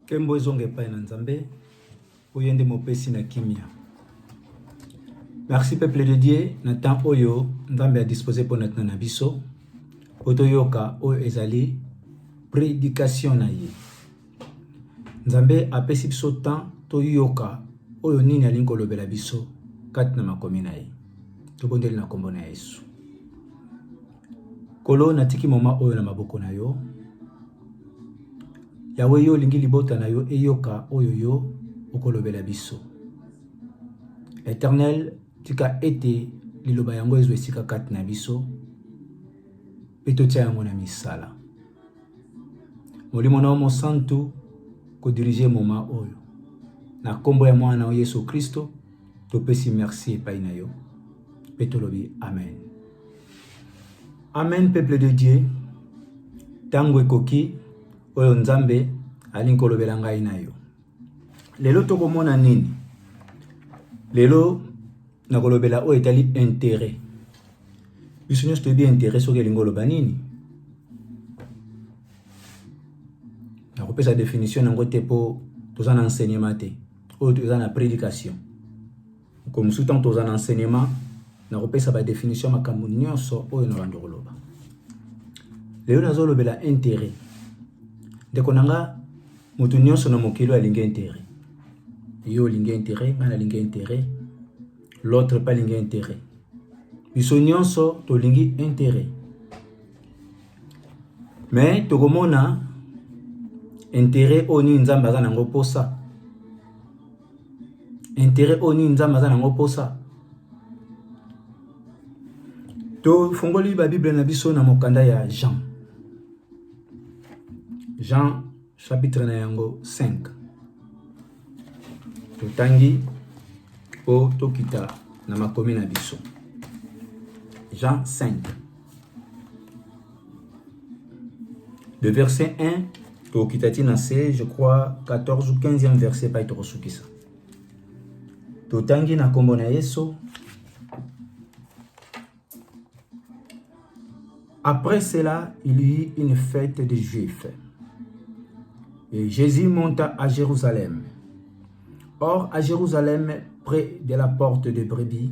Kembo ezonga epai na Nzambe, oyo nde mopesi na kimia. Merci peuple de Dieu na temps oyo Nzambe a disposer mpo na ntina na biso mpo toyoka oyo ezali prédication na ye. Nzambe apesi biso temps toyoka oyo nini alingi kolobela biso kati na makomi na ye. Tobondeli na nkombo na Yesu. Nkolo, natiki mama oyo na maboko na yo. Yawe, yo olingi libota na yo eyoka oyo yo okolobela biso. Eternel, tika ete liloba yango ezwa esika kati na biso mpe totya yango na misala. Molimo na yo mosantu kodirige moma oyo na nkombo ya mwana na yo Yesu Kristo. Topesi merci epai na yo mpe tolobi amen. Amen, peuple de Dieu. Ntango ekoki oyo Nzambe alingi kolobela ngai na yo. Lelo tokomona nini? Lelo nakolobela oyo etali intérêt. Biso nyonso toyebi intérêt soki elingi oloba nini. Nakopesa definition yango te mpo toza na enseignement te. oyo toza na prédication mokolo mosusu ntango toza na enseignement nakopesa badefinition ya makambo nyonso oyo na bando koloba lelo nazolobela intérêt ndeko na nga moto nyonso na mokili oyo alingi intérêt yo olingi intérêt ngai nalingi intérêt l'autre mpe alingi intérêt biso nyonso tolingi intérêt Mais tokomona interet oyo nini Nzambe aza nango posa, interet oyo nini Nzambe aza nango posa. Tofungoli ba Bible na biso na mokanda ya Jean, Jean chapitre na yango 5 totangi po tokita na makomi na biso Jean 5 Le verset 1, Tokitati na se, je crois, 14 ou 15e verset, pas Tokosukisa. Totangi na kombo na Yesu. Après cela, il y eut une fête des Juifs. Et Jésus monta à Jérusalem. Or, à Jérusalem, près de la porte de Brebis,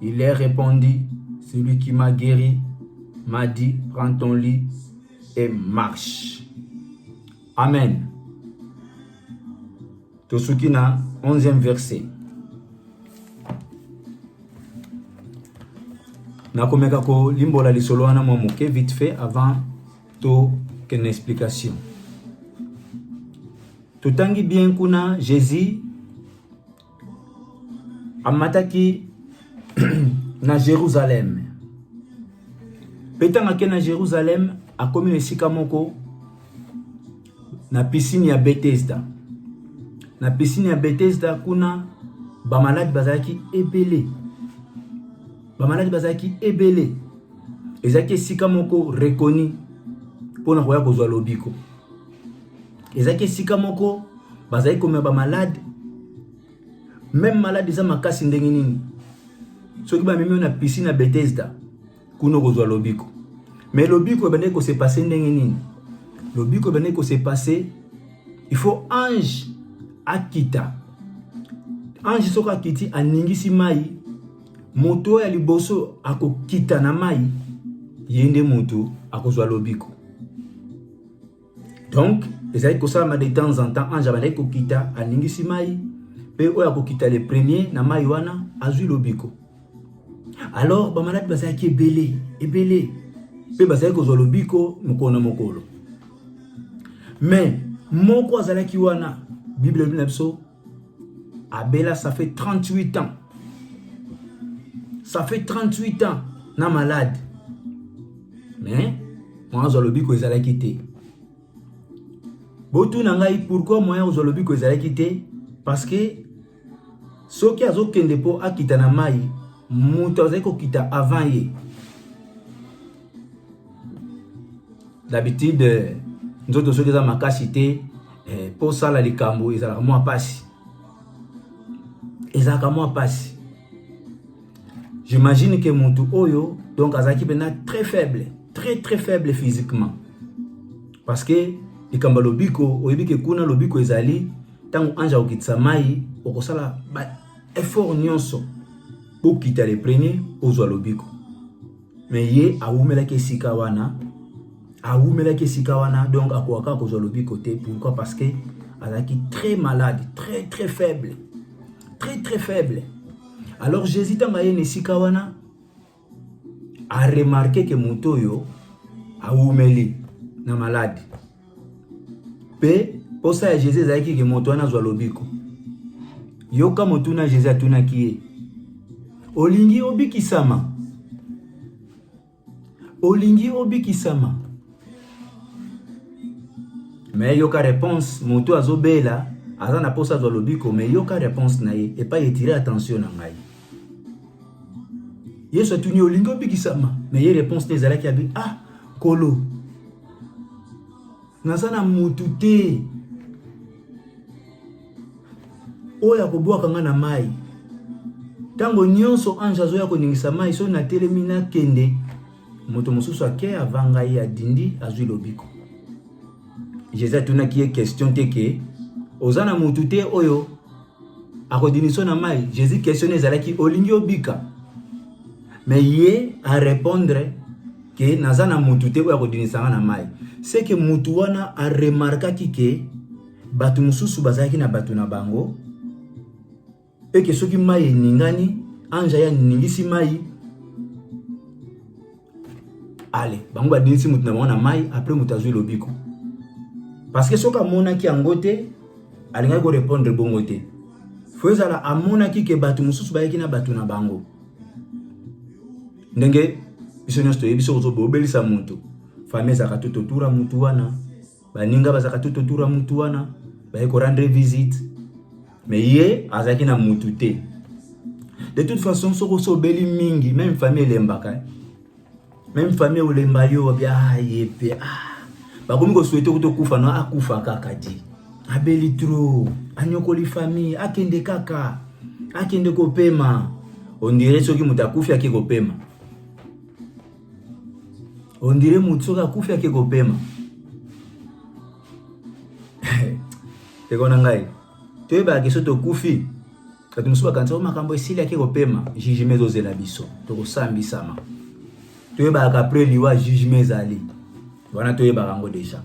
Il est répondu, celui qui m'a guéri m'a dit, prends ton lit et marche. Amen. tosuki na 11e verset nakomeka kolimbola lisolo wana mwa moke vite fait avant tokende explication totangi bien kuna jésus amataki na Jérusalem. Mpe ntango akei na Jérusalem, akomi na esika moko na piscine ya Bethesda. Na piscine ya Bethesda kuna bamaladi bazalaki ebele, bamaladi bazalaki ebele. Ezalaki esika moko reconi mpo na koya kozwa lobiko. ezalaki esika moko bazali komema bamalade meme malade eza makasi ndenge nini soki bamemi yo na piscine ya bethesda kuna okozwa lobiko mais lobiko ebandaki kose passe ndenge nini lobiko ebandaki kose passe il faut ange akita ange soki akiti aningisi mai moto ya liboso akokita na mai ye nde moto akozwa lobiko donc ezali kosalama de temps en temps ange abandaki kokita aningisi mai mpe oyo akokita le premier na mai wana azwi lobiko alors bamaladi bazalaki ebele ebele mpe bazali kozwa lobiko mokolo na mokolo mais moko azalaki wana bible elobi na biso Abela ça fait 38 ans. Ça fait 38 ans na malade. Mais moi zo lobi ko ezalaki te. Botu na ngai pourquoi moi zo lobi ko ezalaki te parce que soki azokende mpo akita na mai moto azali kokita avant ye d'habitude nzoto soki eza makasi te eh, mpo osala likambo ezalaka mwa mpasi ezalaka mwa mpasi j'imagine ke motu oyo donc azalaki mpena très faible très très faible physiquement parce que likambo ya lobiko oyebi ke kuna lobiko ezali ntango ange akokitisa mai okosala ba effort nyonso bokita le premier ozwa lobiko me ye awumelaki esika wana awumelaki esika wana donc akoka kaka kozwa lobiko te pourquoi parce que azalaki très malade très très faible très très faible alors jésus ntango aye na esika wana aremarke ke moto oyo awumeli na malade mpe mposa ya Jezu ezalaki ke moto wana azwa lobiko. Yoka motuna Jezu atunaki ye, olingi obikisama? Olingi obikisama? Me yoka reponse, moto azobela aza na mposa azwa lobiko, me yoka reponse na ye epai etire attention na ngai. yesu atuni yo olingi obikisama na ye réponse te ezalaki abi ah kolo naza na motu te oyo akobwaka ngai na mai ntango nyonso ange azoya koningisa mai soki natelemi nakende moto mosusu ake ava ngai adindi azwi lobiko jesus atunaki ye question te ke oza na motu te oyo akodiniso na mai jésus question ezalaki olingi obika me ye arépondre ke naza na mutu te oyo akondinisa nga na mai seke mutu wana aremarkaki ke bato mosusu bazalaki na bato na bango eke soki mai eningani anja ye aningisi mai ale bango badinisi moto na bango na mai apres moto azwi lobiko parce que soki amonaki yango te alingaki korepondre bongo te fo ezala amonaki ke bato mosusu bayaki na bato na bango ndenge biso nyonso toyebi soki ozobobelisa moto fami ezalaka to totura motu wana baninga bazalaka tout autour ya mutu wana baye ko rendre visite me ye azalaki na mutu te de toute façon soko osobeli mingi meme famille elembaka eh. meme famille olemba yo bia ah, ye mpe ah. bakomi kosuete kuta okufa no akufa kaka ti abeli trop anyokoli famille akende kaka akende kopema ondire soki moto akufi ake kopema on dirait moto soki akufi ake kopema ndeko na ngai toyebaka ke so tokufi bato mosusu bakanisa o oh, makambo esili ake kopema jugement ezozela biso tokosambisama toyebaka apres liwa jugement ezali wana toyebaka yango deja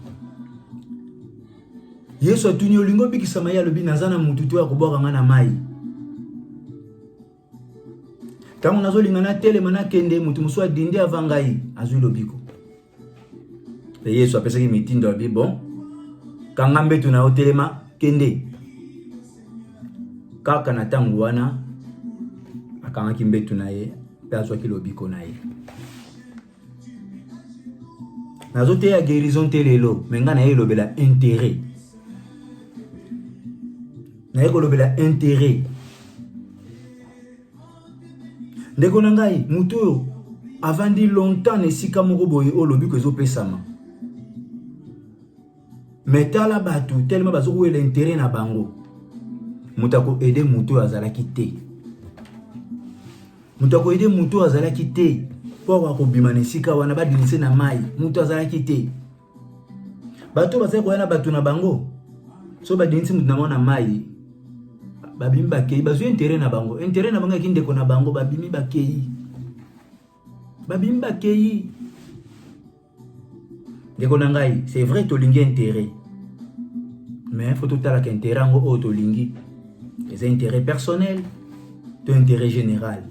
yesu atuni olingi obikisama ye alobi naza na motu to ya kobwaka ngai na mai ntango nazolinga natelema nakende moto mosusu adindi ava ngai azwi lobiko mpe yesu apesaki mitindo abi bon kanga mbetu na yo telema kende kaka na ntango wana akangaki mbetu na ye mpe azwaki lobiko na ye nazoteya guérison te lelo me ngai naye elobela intérêt naye kolobela intérêt ndeko na ngai moto oyo avandi longtemps na esika moko boye oyo lobiko ezopesama Mais tala batu tellement bazo ko l'intérêt na bango. Moto ako aider moto oyo azalaki te. Moto ako aider moto oyo azalaki te. Po akobima na esika wana ba dinise na mai. Moto azalaki te. Bato bazali koya na bato na bango. So ba dinise moto na bango na mai. Babimi bakei bazwi intérêt na bango. Intérêt na bango ya kindeko na bango babimi bakei. babimi bakei ndeko na ngai c'est vrai tolingi intérêt mais faut totalaka intérêt yango oyo tolingi eza intérêt personnel to intérêt général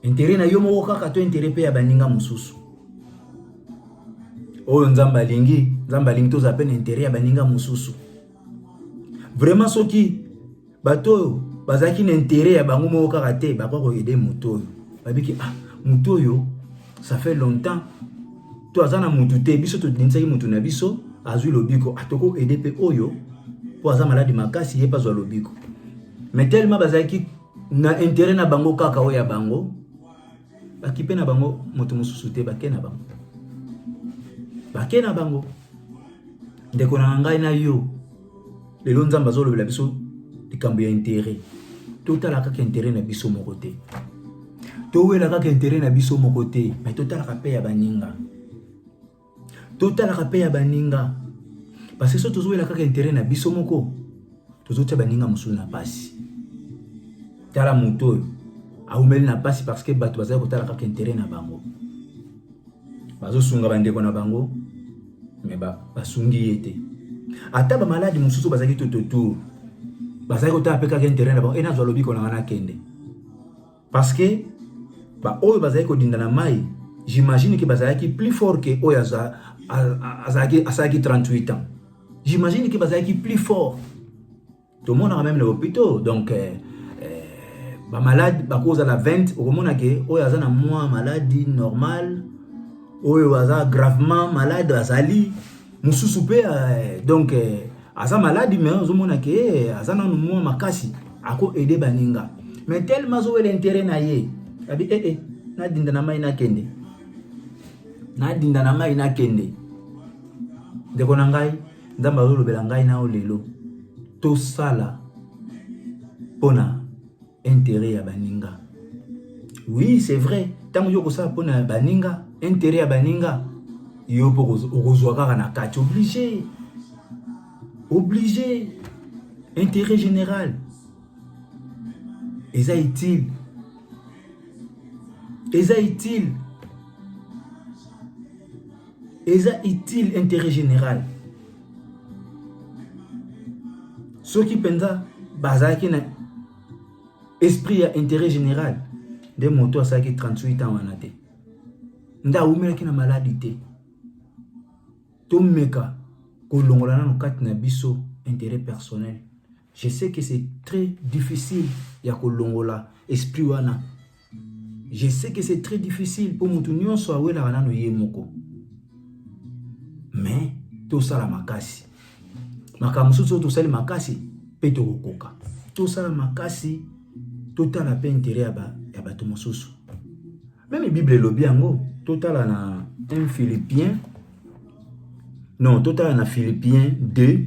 intérêt na yo moko kaka to intérêt mpe ya baninga mosusu oyo nzambe alingi nzambe alingi tozala mpe na intérêt ya baninga mosusu vraiment soki bato oyo bazalaki na intere ya bango moko kaka te bakoki koyede moto oyo babiki ah moto oyo ça fait longtemps to aza na motu te biso tobinisaki motu na biso azwi lobiko atoko ah, ede mpe oyo mpo aza maladi makasi ye mpe azwa lobiko mais tellement bazalaki na intere na bango kaka oyo ya bango Bakipe na bango moto mosusu te, bake na bango, bake na bango. Ndeko na ngai na yo, lelo Nzambe azolobela biso likambo ya interet. Totala kaka interet na biso moko te, towela kaka interet na biso moko te, me totalaka mpe ya baninga. totalaka mpe ya baninga parce que so tozowela kaka intérêt na biso moko tozotya baninga mosusu na mpasi tala moto oyo awumeli na mpasi parce que bato bazali kotala kaka intérêt na bango bazosunga bandeko na bango me basungi ye te ata bamaladi mosusu bazalaki tototour bazalaki kotala mpe kaka intérêt na bango e nazwa lobiko na ngai nakende Parce que ba oyo bazali kodinda na mai, j'imagine que bazalaki plus fort que oyo aza azalaki asalaki 38 ans. J'imagine que bazalaki plus fort. Tomonaka meme na hopitaux donc euh, euh, ba malade bakozala 20 okomona ke oyo aza na mwa maladi normale oyo aza gravement malade azali mosusu mpe euh, donc aza maladi mais ozomona ke eh, aza nanu mwa makasi ako aide baninga mais tellement azowela intérêt na ye abi ee eh, eh, nadinda na mai nakende nadinda na mai nakende ndeko na ngai nzambe azolobela ngai nao lelo tosala mpona interet ya baninga oui c'est vrai ntango yo okosala mpo na baninga interet ya baninga yo mpo okozwa kaka na kati oblige oblige interet général eza utile eza utile eza utile intérêt général soki mpenza bazalaki na esprit ya intérêt général nde moto asalaki 38 ans wana te nde awumelaki na maladi te tomeka kolongola nano kati na biso intérêt personnel Je sais que c'est très difficile ya kolongola esprit wana. Je sais que c'est très difficile mpo moto nyonso awelaka nano ye moko, mais tosala makasi. Makambo mosusu oyo tosali makasi mpe tokokoka. Tosala makasi, totala mpe intere ya, ba, ya bato mosusu. Meme Bible elobi yango, totala na 1 Philippien, non, totala na Philippien 2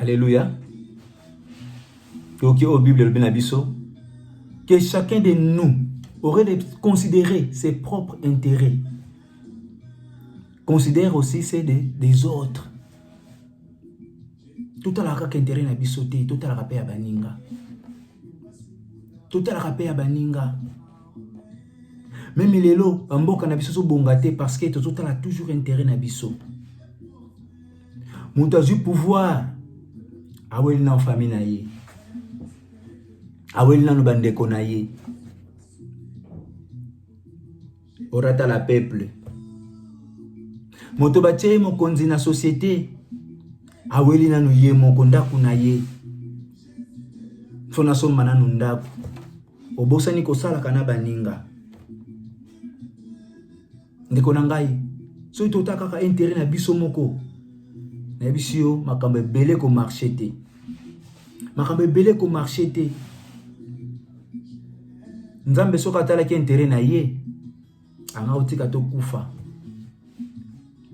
Alléluia. Toki au Bible le biso que chacun de nous aurait de considérer ses propres intérêts. Considère aussi ceux des, des autres. Tout à l'heure intérêt na biso te, tout à l'heure ya baninga. Tout à l'heure ya baninga. Même lelo, mboka na biso so bonga te parce que tout à l'heure toujours intérêt na biso. moto azwi pouvoir aweli nano fami na ye aweli nano bandeko na ye orata la peuple moto batye ye mokonzi na societe aweli nano ye moko ndako na ye so nasomba nano ndako obosani kosalaka na baninga ndeko na ngai soki tota kaka intérêt na biso moko nayebisi yo makambo ebele komarche te makambo ebele komarche te nzambe soki atalaki intérêt na ye anga otika tokufa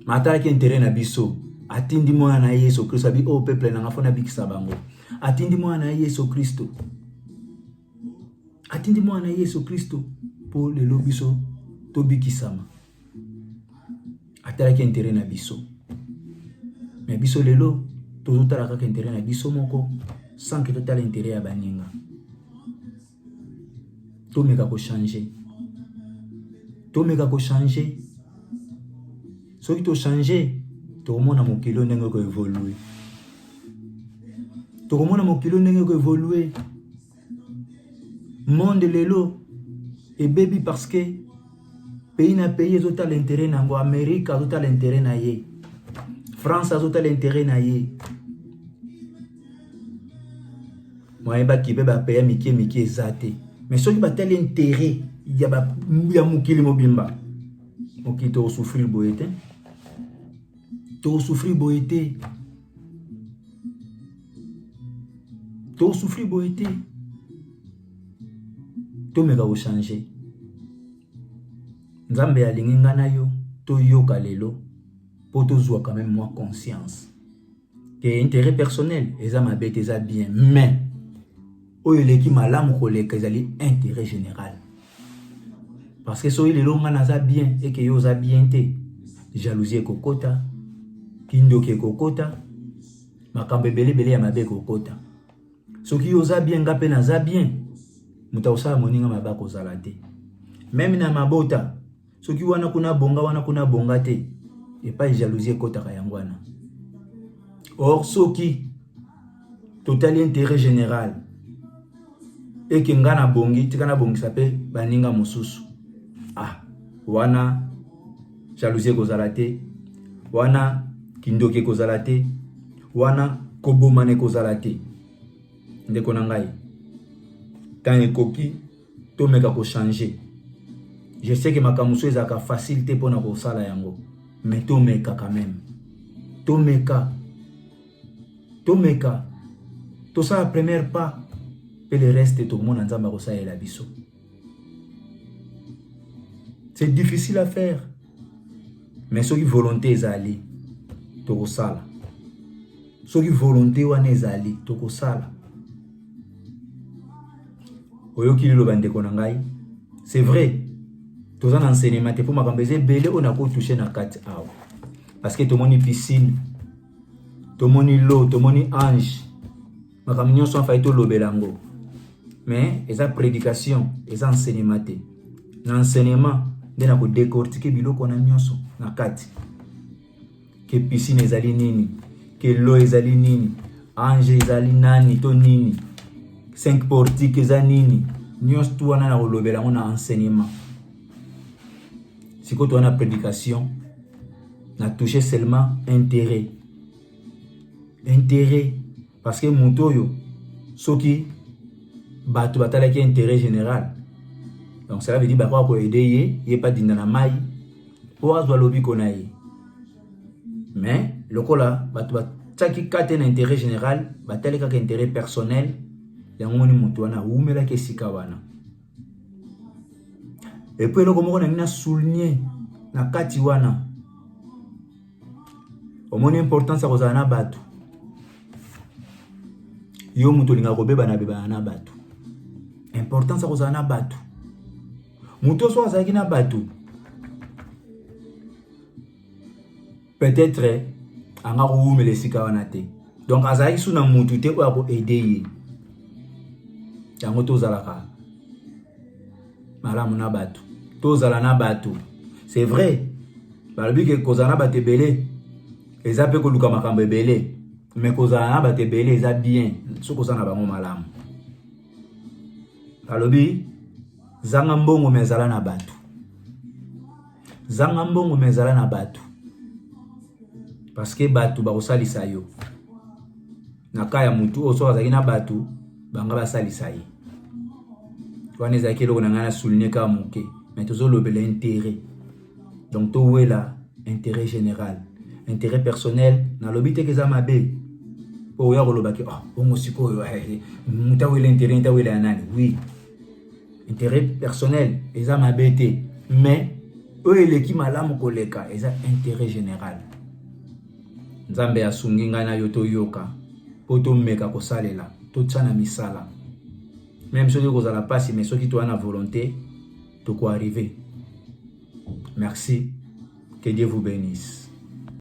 ma atalaki intérêt na biso atindi mwana na ye yesu kristo abi oyo oh, peple nanga mpo nabikisa bango atindi mwana na ye yesu kristo atindi mwana na yesu kristo mpo lelo biso tobikisama atalaki intere na biso na biso lelo tozotala kaka intere na biso moko sanke totala intere ya baninga tomeka kochange tomeka kochange soki tochange tokomona mokili oyo ndenge ekoevolue tokomona mokili ndenge eko evolue monde lelo ebebi parce que pays na pays ezotala intérêt na yango amérique azotala intérêt na ye france azotala intérêt na ye moyen bakibe bapeya mike mike eza te mais soki batali intérêt ya, ba, ya mokili mobimba mokili tokosouffrir boye te To souffrir boye te. To souffrir boye te. To meka ko changer. Nzambe alingi nga na yo to yoka lelo po to zwa quand même moi conscience. Ke intérêt personnel eza mabe te eza bien mais oyo eleki malamu koleka ezali intérêt général. parce que soki lelo ngai naza bien eke yo oza bien te jalousie ekokota kindoki ekokota makambo ebele ebele ya mabe ekokota soki yo oza bien ngai mpe naza bien moto akosala moninga mabe akozala te meme na mabota soki wana kuna bonga wana kuna bonga te epai jalousie ekotaka yango wana or soki totali intérêt général eke nga na bongi tika na bongisa mpe baninga mosusu ah wana jalousie ekozala te wana kindoki ekozala te wana kobomana ekozala te ndeko na ngai ntango ekoki tomeka ko changer je sais que makambo mosusu ezalaka facile te mpo na kosala yango mais tomeka quand même tomeka tomeka tosala première pas mpe le reste tokomona nzambe akosalela biso c'est difficile à faire mais soki volonté ezali tokosala soki volonté wana ezali tokosala oyoki liloba ndeko na ngai c'est vrai toza na enseignement te mpo makambo eza ebele oyo nakotouche na kati awa parce que tomoni piscine tomoni lo tomoni ange makambo nyonso afai tolobela yango mais eza prédication eza enseignement te na enseignement nde na kodecortike biloko na nyonso na kati ke pisine ezali nini ke lo ezali nini ange ezali nani to nini cinq portique eza nini nyonso tu wana na kolobela yango na enseignement sikoyo towana prédication na touche seulement intérêt intérêt parce que moto oyo soki bato batalaki intérêt général donc cela veut dire bakoka koyede ye ye mpe adinda na mai mpo azwa lobiko na ye mais lokola bato batiaki kate na intérêt général batali kaka intérêt personnel yango moni moto wana awumelaki esika wana epuis eloko moko nangi na souligne na kati wana omoni importance ya kozala na bato yo moto olingaka kobebana bebana na bato importance ya kozala na bato moto oso azalaki na bato peut-être anga kowumela esika wana te donc azalaki su na mutu te oyo akoaide ye yango tozalaka malamu na bato tozala na bato c'est vrai balobi ke kozala na bato ebele eza mpe koluka makambo ebele me kozala na bato ebele eza bien soki oza na bango malamu balobi zanga mbongo me ezala na bato zanga mbongo me ezala na bato parce que bato bakosalisa yo na ka ya mutu oyo soki azalaki na bato banga basalisa ye wana ezalaki eloko na ngai na souligne kaka moke mais tozolobela intérêt donc towela intérêt général intérêt personnel nalobi teke eza mabe mpo oya kolobaki oh, bongo sikoyo eh, eh, moto awela intérêt nte awela ya nani oui intérêt personnel eza mabe te mais oyo eleki malamu koleka eza intérêt général Nzambe asungi ngai na yo toyoka mpo tomeka kosalela totya na misala meme soki ekozala mpasi mais soki toya na volonté tokoarrive merci que dieu vous bénisse